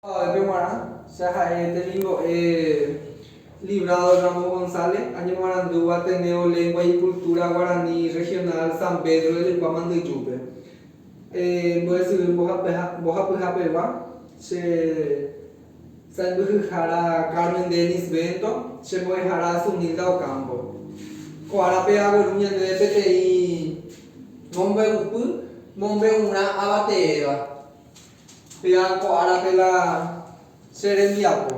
Avave g̃uarã, che ha'e temimbo'e Librado Ramos González, añemoarandúva Ateneo Lengua y Cultura Guarani Regional San Pedro de Lykua Mandyjúpe. Mbo'esyry mbohapyhapegua, che sãimbyhyhára Carmen Dennis Bento, che mbo'ehára Sunilda Ocampo. Ko árape agueru ñandéve peteĩ mombe'upy mombe'urã avateéva. Péa ko árape la che rembiapo.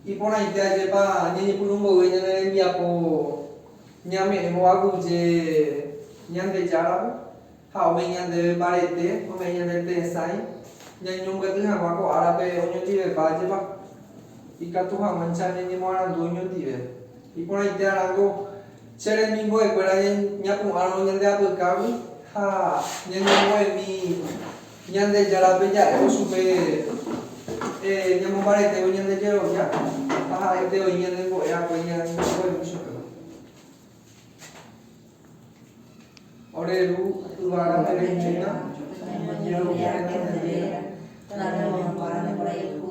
Iporãite ajépa ñañepyrũ mboyve ñane rembiapo ñame'ẽ hova guyje Ñandejáramo ha ome'ẽ ñandéve mbarete, ome'ẽ ñandéve tesãi ñañombyatý hag̃ua ko árape oñondivepa ajépa ikatu hag̃uáicha ñañemoarandu oñondive. Iporãite arãngo che remimbo'ekuéra ñapu'ãrõ ñande apykágui ha ñañembo'emi. Ñandejárape ja'évo chupe ñamombaretévo ñande jerovia ha ha'ete oĩ ñanembo'e hague ñañemomba'evy chupéva. Ore Ru yvága perehína, oñeñe'ẽrõ pya'e Tanderéra, Tanderekoporãmba, Tandeporayhu,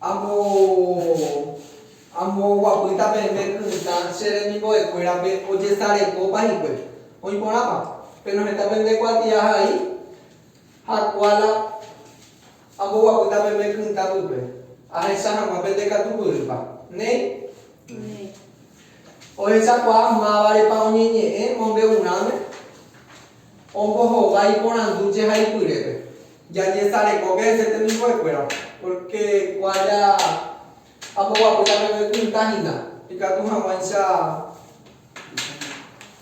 Amo, amo oguapýta peẽme kytã che remimbo'ekuérape ojesarekópa hikuái. Oĩ porãpa? Péro heta pende kuatiahai ha kuála amboguapýta peẽme kytã pype. Ahecha hag̃ua pende katu pyýpa. Néi? Néi. Ohechakuaa mávarepa oñeñe'ẽ mombe'urãme? Ombohovái porandu che haipyrépe. Jañesarekóke che temimbo'ekuéra, pórke kuaja amboguapy la peve pytã hína, ikatu hag̃uáicha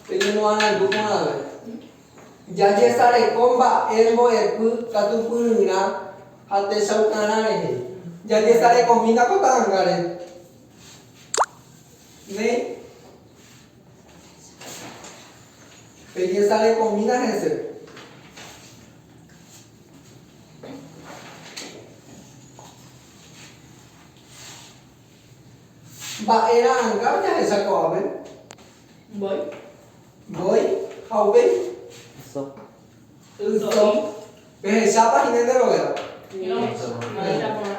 peñemoarandu porãve. Jajesareko mba'e mbo'epy katupyryrã ha techaukarã rehe. Jajesarekohína ko ta'angáre. Néi. Peñesarekõmína hese. Mba'e ra'ãnga ojahecha ko'ápe? Mbói. Mbói. Ha upéi? Yso. Yso. Pehechápa hína nde rovéva? Ñe'ẽrõ. Mba'éicha porã?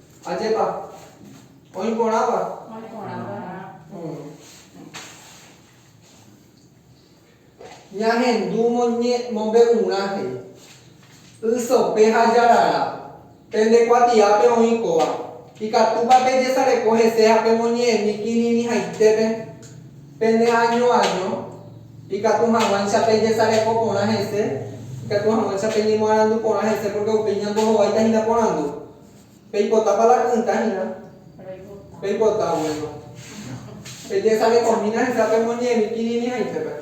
Ajépa. Oĩ porãva. Oĩ porãva. Ñahendu mombe'urã he'i. Y sope ha jarara. Pende kuatiápe oĩ kóva. Ikatúpa pejesareko hese ha pemoñe'ẽmi kirirĩhaitépe pende año año? Ikatu hag̃uáicha pejesareko porã hese, ikatu hag̃uáicha peñemoarandu porã hese pórke upéi ñandohováita hína porandu. Peipotápa la kynda hína? Reipota. Peipota, bueno. Pejesarekomína hesa pemoñe'ẽmi kirirĩ haisépe.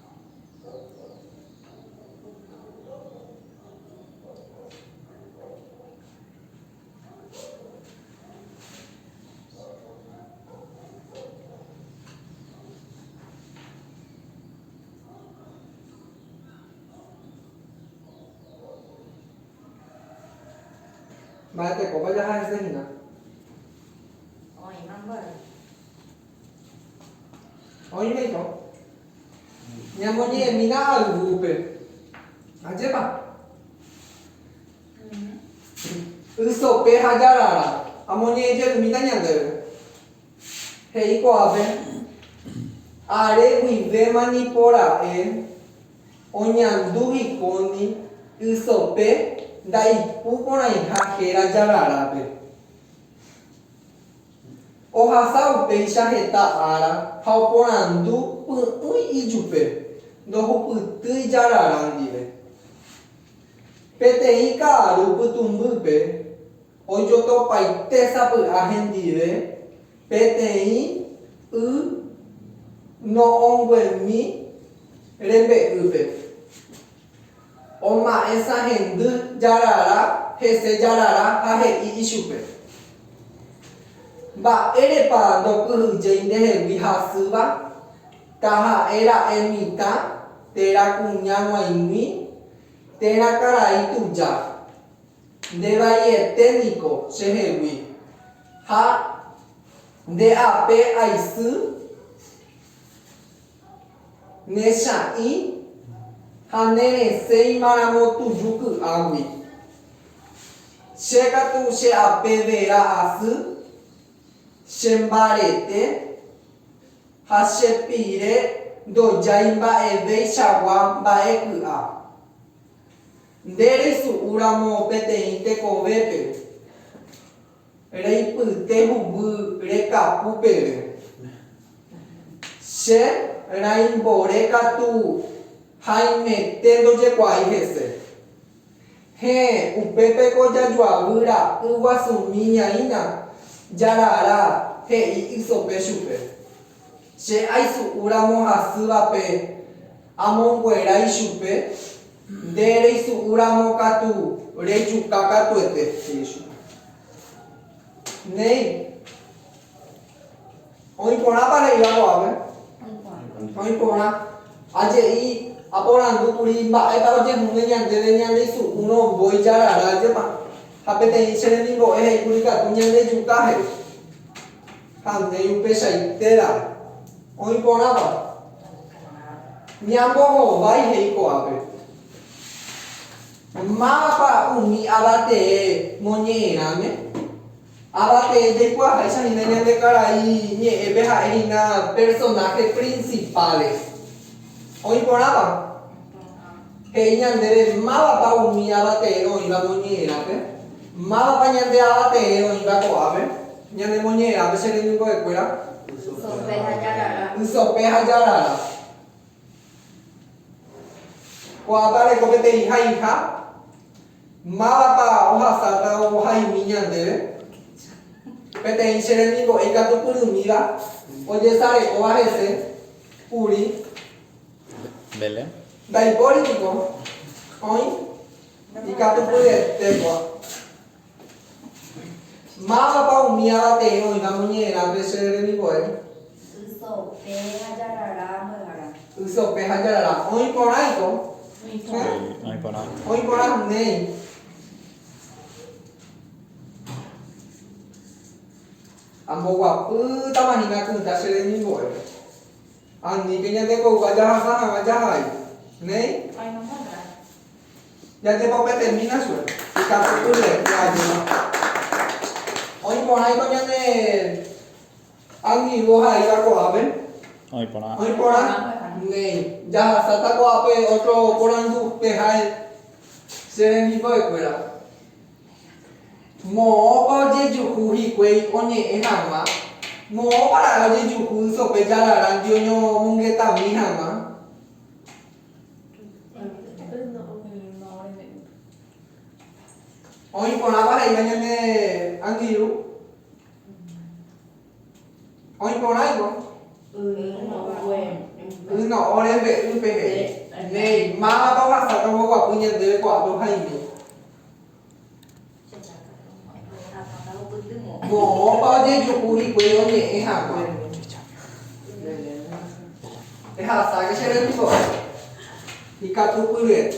Mba'etekópa jaha'eséhína. Oimérõ ñamoñe'ẽmína ayvúpe. Ajépa? Y sope ha jarara amoñe'ẽjerumíta ñandéve. He'i ko'ápe, Are guivéma nipora'e oñandu hikóndi y sope ndaipu porãiha héra jararápe. Ohasa upéicha heta ára ha oporandu py'ỹi ijupe, ndohupytýi jarara ndive. Peteĩ ka'aru pytũmbýpe ojotopaite sapy'a hendive peteĩ y no'õnguemi rembe'ýpe. Oma'ẽsa hendy jarara hese jarara ha he'i ichupe, Mba'érepa ndopyhyjéi ndehegui hasýva, taha'e ra'e mitã térã kuña g̃uaig̃ui térã karai tuja. Nde vaiete niko chehegui, ha nde ape aisy. Ne cha'ĩ ha ne resẽ imaramo tuju ky'águi. Che katu che ape vera asy, che mbarete ha che pire ndojái mba'evéichagua mba'e ky'a. Nde reisu'úramo peteĩ tekovépe. Reipyte huguy rekapu peve. Che raimbore katu haimete ndojekuaái hese. Héẽ, upépe ko jajuavy ra'y guasumi ñaína, jarara, he'i ysope chupe. Che aisu'úramo hasývape amonguerái chupe. Nde reisu'u ramo katu rejuka katuete, he'i chupe. Néi, oĩ porãpa re'íva ko'ápe? Oĩ porã. Ha je'i, aporandu kuri, Mba'épa ojehúne ñandéve ñandeisu'úrõ mbói jarara jepa? Ha peteĩ che remimbo'e he'i kuri katu ñandejuka, he'i. Ha ndéi upechaitérã oĩ porãva. Ñambohovái he'i ko'ápe. Mávapa umi avatee moñe'ẽrãme? Avatee jaikuaaháicha hína ñande karai ñe'ẽpe ha'e hína personajes principales. Oĩ porãva. He'i ñandéve mávapa umi avateẽ oĩva moñe'ẽrápe, mávapa ñande avateẽ oĩva ko'ápe, ñane moñe'ẽrápe che remimbo'ekuéra, ysope ha jarara. Ko'ápe areko peteĩ haiha, mávapa ohasáta ohaimi ñandéve, peteĩ che remimbo'e ikatupyrymíva ojesarekóva hese kuri. Ndaipóri piko oĩ ikatupyryetégua. Mávapa umi avateẽ oĩva moñe'ẽrápe che remimbo'e? Y sope ha jarara mbyara. Y sope ha jarara. Oĩ porã iko. Oĩ porã néi. Amboguapýtamahína kytã che remimbo'e. Aníke ñande kogua jahasa hag̃ua jahai. Néi. Jajepopy termina chugui. Ikatupy rire pe ajúda. Oĩ porãiko ñane angirũ ohaíva ko'ápe? Oĩ porã. Oĩ porã. Néi. Jahasáta ko'ápe ótro porandu pehái che rembimbo'ekuéra. Moõpa ojejuhu hikuái oñe'ẽ hag̃ua? Moõpara'e ojejuhu ysope jararãnte oñomongetami hag̃ua? Oĩ porãpa he'íva ñande angirũ. Oĩporãivo y no'õ rembe'y peve. Néi, máva tohasa tomboguapy ñandéve ko'ápe ohaime. Moõpa ojejuhu hikuái oñe'ẽ hag̃ua. Ehasáke che remimbo'e. Ikatupyryete.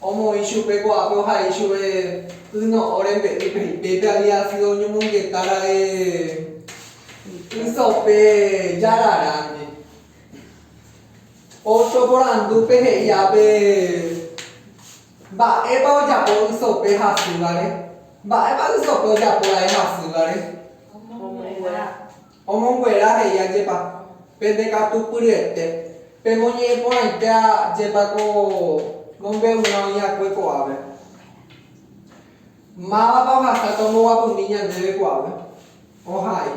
Omoĩ chupe ko'ápe ohai chuve y no'õ rembe'y Felipe-pe había sido oñomongeta ra'e y sope jararãndi. Otro porandúpe he'i ápe mba'épa ojapo y sope hasývare. Mba'épa y sope ojapo ra'e hasývare? Omoguera. Omonguera he'i ajépa, Pende katu pyryete, pemoñe'ẽ porãite ajépa ko mombe'urã oĩakue ko'ápe. Mávapa ohasáta omboguapumi ñandéve ko'ápe? Ohai.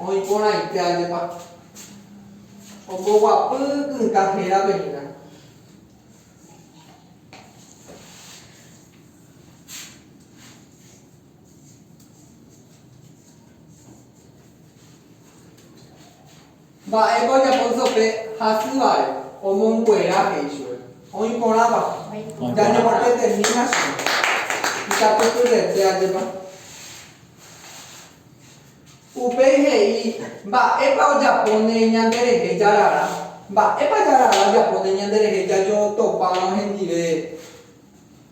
Oĩ porãite ajépa. Omboguapy kynka hérape hína. Mba'épa ojapo Jope hasy va'e omonguera he'i chupe, Oĩ porãpa, jañomopyetehína chéve. Ikatupyryete ajépa. Upéi he'i, Mba'épa ojapóne ñanderehe jarara? Mba'épa jarara ojapóne ñanderehe jajootopárõ hendive?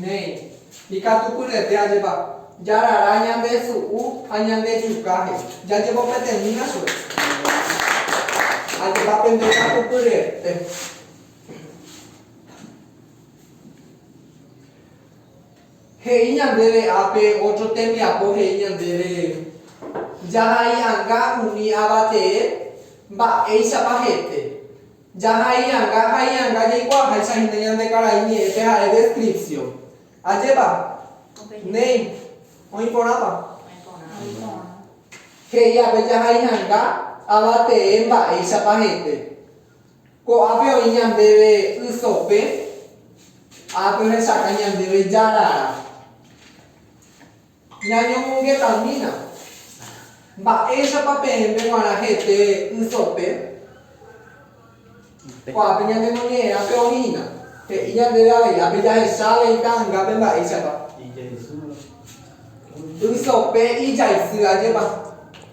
Néi, ikatupyryete ajépa jarara ñande su'u ha ñande chuka he'i. Jajepopete'ỹna chupe. Ajépa pende katupyryete. He'i ñandéve ápe ótro tembiapo he'i ñandéve jahai'anga umi ava tee, mba'éichapa hete. Jahai'anga hai'anga jaikuaaháicha hína ñande karai ñe'ẽpe ha'e descripción. Ajépa? Néi. Oĩ porãpa? He'i ápe jahai'anga ava tee mba'éichapa hete. Ko'ápe oĩ ñandéve y sope, ápe ohechaka ñandéve jarara. Ñañomongetamína. Mba'éichapa peẽme g̃uarã hete y sope? Ko'ápe ñanemoñe'ẽrã pe oĩna. He'i ñandéve avei, ápe jahecha avei ta'angápe mba'éichapa. Y sope ijaisy, ajépa.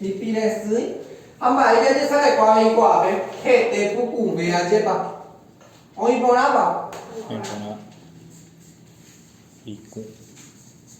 Hipi resỹ. Ha mba'e jajesarekua avei ko'ápe? Hete pukuvẽ ajépa. Oĩ porãpa? Oĩ porã. Iku.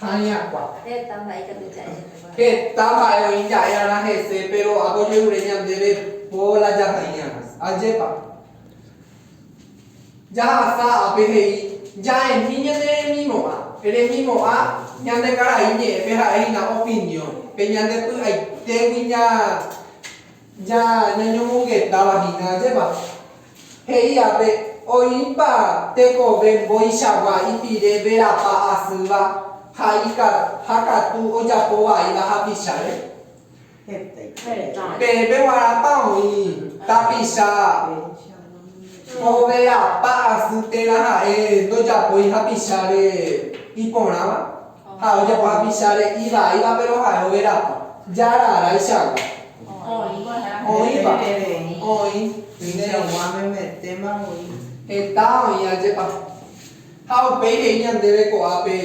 Ha iñakua. Heta mba'e ikatu ja'e. Heta mba'e oĩ ja'érarã hese, péro apojerure ñandéve po la jaha'éiramo. Ajépa jahasa ápe he'i ja'endi ñane remimo'ã? Remimo'ã ñande karai ñe'ẽme ha'e hína opinión, pe ñande py'aitégui Ja ñañomongetáva hína ajépa, he'i ápe, oĩpa tekove mbo'ichagua ipire verapa asýva ha ha katu ojapo vaíva hapicháre? Pe peguarãpa oĩ tapicha overapa asy térã ha'e ndojapói hapicháre iporãva? Ha ojapo hapicháre ivaíva péro ha'e overapo, jára aráichagua. Oĩva, oĩ, néi. Heta oĩ ajépa. Ha upéi he'i ñandéve ko'ápe,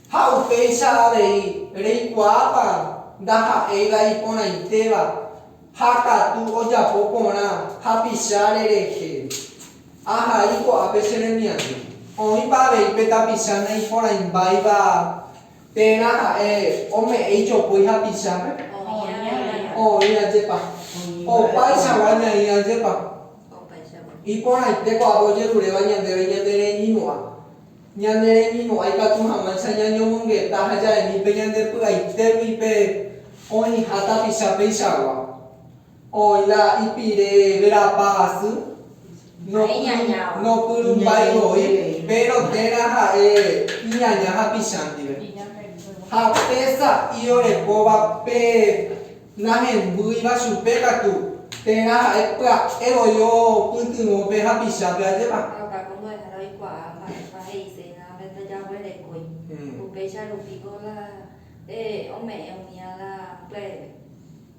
Ha upéicha avei, reikuaápa ndaha'éiva iporãitéva ha katu ojapo porã hapicháre rehe. Ha avei ko'ápe che remiandu, oĩpa avei pe tapicha naiporãimbáiva térã ha'e ome'ẽ ijopói hapichápe? Oĩ ajépa? Opaichagua ñaĩ ajépa? Iporãite ko'ápe ojeruréva ñandéve ñande reñimo'ã. Ñande reñimo'ã ikatu hag̃uáicha ñañomongeta ha jaimi pe ñande py'aitégui pe oĩha tapicha peichagua. Oĩ la ipire verapa asy, nopyrumbái voi, péro térã ha'e iñaña hapicha ndive. Ha pe sa'i orekóva pe nahembýiva chupe katu, térã ha'e pya'e voi opytyvõ pe hapichápe ajépa. Ha okáko mbo'ehára oikuaa mba'épa he'ise yvágape ndajaguerekói, upéicha rupi ko la pe ome'ẽ umía la pya'eve.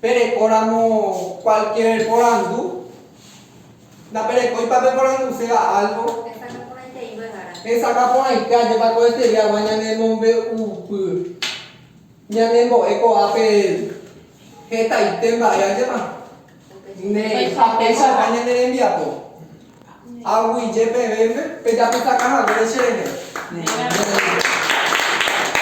Pe rekóramo cualquier porandu, ndaperekóipa pe poranduséva algo? Hesakã porãitei mbyhára. Hesakã porãite ajépa ko estudiaguã ñane mombe'upy ñane mbo'e ko'a pe hetaite mba'e ajépa? Ne japeichagua ñane rembiapo. Aguije pevéme pejapysaka haguére che rehe. Ne.